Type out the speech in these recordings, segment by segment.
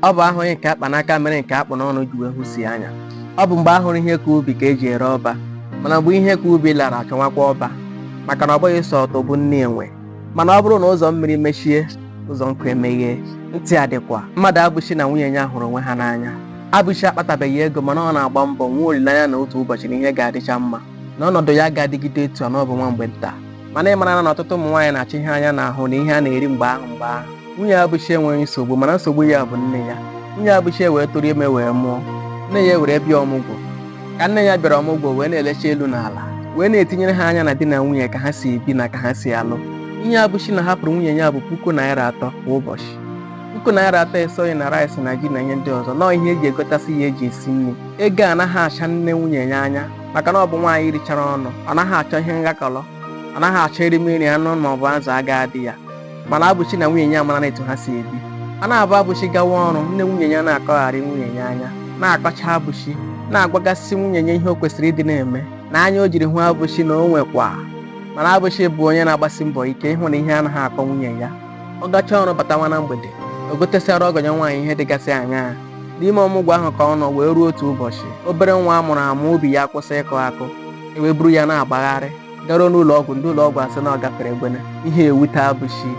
ọ bụ ahụghị nke a kpa n'aka mere nke a kpụ n'ọnụ ji wee hụsie anya ọ bụ mgbe a hụrụ ihe ka ubi ka eji ere ọba mana mgbe ihe ka ubi lara achọwakwa ọba maka na ọ bụghị sọ ụtụ bụ nni enwe mana ọ bụrụ na ụzọ mmiri mechie ụzọ nkụ emeghee ntị adịkwa mmadụabụchi na nwunye ya hụrụ onwe ha n'anya abụchi akpatabeghị ego mana ọ na-agba mbọ nwee olileanya na otu ụbọchị na ihe ga-adịcha mma na ọnọdụ ya aga adịgide etu a na ọ bụ nwa mgbe nta mana ị mara na ọtụtụ ụmụ nwaanyị na-achọ ihe anya na-ahụ na ihe a na-eri mgbe ahụ mgbe ahụ nwunye abụchi enweghị nsogbu mana nsogbu ya bụ nne ya nwunye abụchi wee tụrụ ime wee mụọ nne ya were bịa ọmụgwọ ka nne ya bịara ọmụgwọ wee na-elecha elu na ala wee na-etinyere ha anya na di na nwunye ka ha si ebi na ka ha si alụ ihe abụchi na-ahapụrụ nwunye ya bụ puku naira atọ kwa ụbọchị puku naira atọ esoghị na rice na ji na ihe ndị ọzọ nọọ ihe eji egotasị ya eji esi nri ego anaghị acha nne nwunye ya anya maka na ọ bụ nwaanyị richara ọnụ ọ naghị achọ ihe nghakọrọ ọ naghị achọ erimeri anụ ma ọ bụ azụ aga adị ya mana abụchi na nwunye ya amarana etu ha si ebi a na-abụ abụchi gawa ọrụ nne nwunye ya na-akọgharị nwunye ya anya na-akọcha abụchi na-agwagasị nwunye ya ihe o kwesịrị ịdị na-eme na anya o jiri hụ abụchi na o nwekwa mana abụchi bụ onye na-agbasi mbọ ike ịhụ na ihe anaghị akọ nwunye ya ọ gachaa ọrụ batawa na mgbede o gotesịara ọgọ ya nwaanyị ihe dịgasị aṅaa n'ime ọmụgwọ ahụ ka ọ nọ wee ruo otu ụbọchị obere nwa a mụrụ amụ obi ya kwụsị ịkụ akụ e wee buru ya na-agbagharị garuo n'ụlọ ọgwụ ndị ụlọ ọgwụ asị na ọ gafere egbene ihe ewute abụchi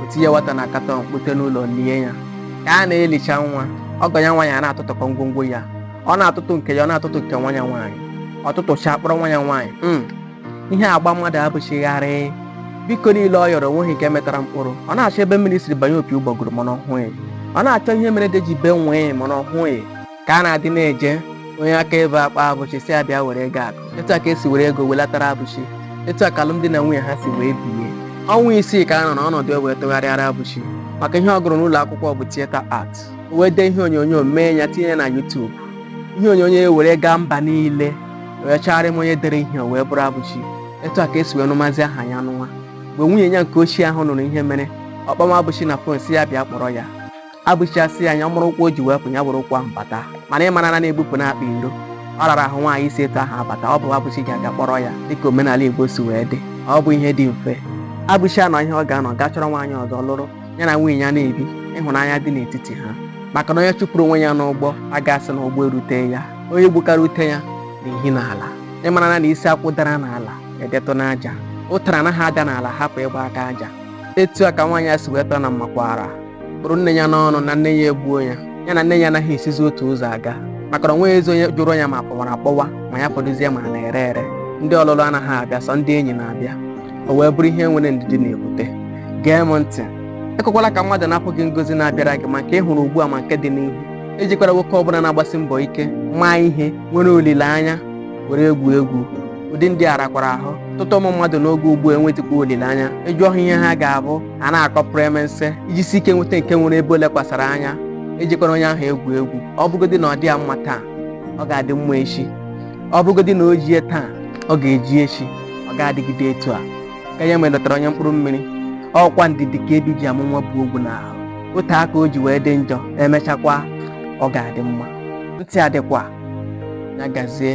o tinye nwata na katọn kpute n'ụlọ lie ya ka a na-elicha nwa ọgọ ya nwaanyị a na-atụtụkọ ngwongwo ya ọ na-atụtụ nke ya ọ na-atụtụ nke nwa ya nwaanyị ọ tụtụchaa kpọrọ nwa ya nwaanyị ihe agba mmadụabụchi gharịị biko niile ọ yọrọ o nweghị nke mịtara mkpụrụ ọ na-achọ ebe mmiri siri banye opi ụgbọgụrụ mana ọ hụghị ọ na-achọ ihe mere ede ji bee nwịị mana ọ hụghị ka a na-adị na-eje onye akaebe akpọ abụchi sị ya bịa were ego akụ etu a ka esi were ego welatara abụchi etu a ka alụmdi na nwunye ha si wee bie ọnwa isii ka a nọ n'ọnọdụ e wee tụgharịara abụchi maka ihe ọ gụrụ n'ụlọ akwụkwọ bụ theatre art o wee dee ihe onyonyo mee ya tinye ya na YouTube ihe onyonyo e were gaa mba niile wee chọgharịma onye dere ihe o wee bụrụ abụchi etu a ka esi wee nụmazi aha ya n'ụwa mgbe nwunye ya nke ochie ahụ nụrụ ihe mere ọ kpọma abụchi na fon sị ya bịa kpọrọ ya abụchi asị ya nya buru ụkwụ o ji wee pụ ya buru ụkwụ ahụ bata mana ị mara na na ebupụna akpa iro ọ rara ahụ nwaanyị isi etu ahụ abata ọ bụ abụchi ga-aga kpọrọ ya dịka omenala igbo si wee dị ọ bụ ihe dị mfe abụchi anọ ihe ọ ga-anọ gaa chọrọ nwaanyị ọzọ lụrụ ya na nwunye ya na-ebi ịhụnanya dị n'etiti ha maka na onye chụpụrụ onwe ya n'ụgbọ aga asị na ụgbọ erute ya onye gbukara ute ya na-ehi n'ala ị mara na isi akwụ dara n'ala edetụ n'aja ụtara anaghị ada n'ala hapụ ịgba aka aja etu a ka nwaanyị a si wee tọọ na mmakwaara kpụrụ nne ya n'ọnụ na nne ya egbuo ya ya na nne ya anaghị esizi otu ụzọ aga maka na o nweghịzi onye jụrụ ya ma kpọwara akpọwa ma ya fọdụzie ma na-ere ere ndị ọlụlụ anaghị abịa sọ ndị enyi na-abịa o wee bụrụ ihe enweghị ndidi na-ebute gee m ntị ekwekwala ka mmadụ napụ gị ngozi na-abịara gị ma nke ị hụrụ ugbu a ma nke dị n'ihu ejikwala nwoke ọbụla na-agbasi mbọ ike maa ihe nwere olileanya were egwu egwu ụdị ndị a rakwara ahụ ọtụtụ ụmụ mmadụ n'oge ugbu a enwetakwa olileanya ị jụọ ha ihe ha ga-abụ a na-akọpụrụ emense ị jisie ike nweta nke nwere ebe o lekwasara anya ejikwala onye ahụ egwu egwu ọ bụgodị na ọ dịghị ya mma taa ọ ga-adị mma echi ọ bụgodị na o jighị taa ọ ga-eji echi ọ ga-adịgide etu a ka ya nwere dọtara onye mkpụrụ mmiri ọ kwa ndidi ka ebi ji amụ nwa bu ogwu n'ahụ otu aka o ji wee dị njọ emechakwa ọ ga-adị mma ntị adịkwa ya gazie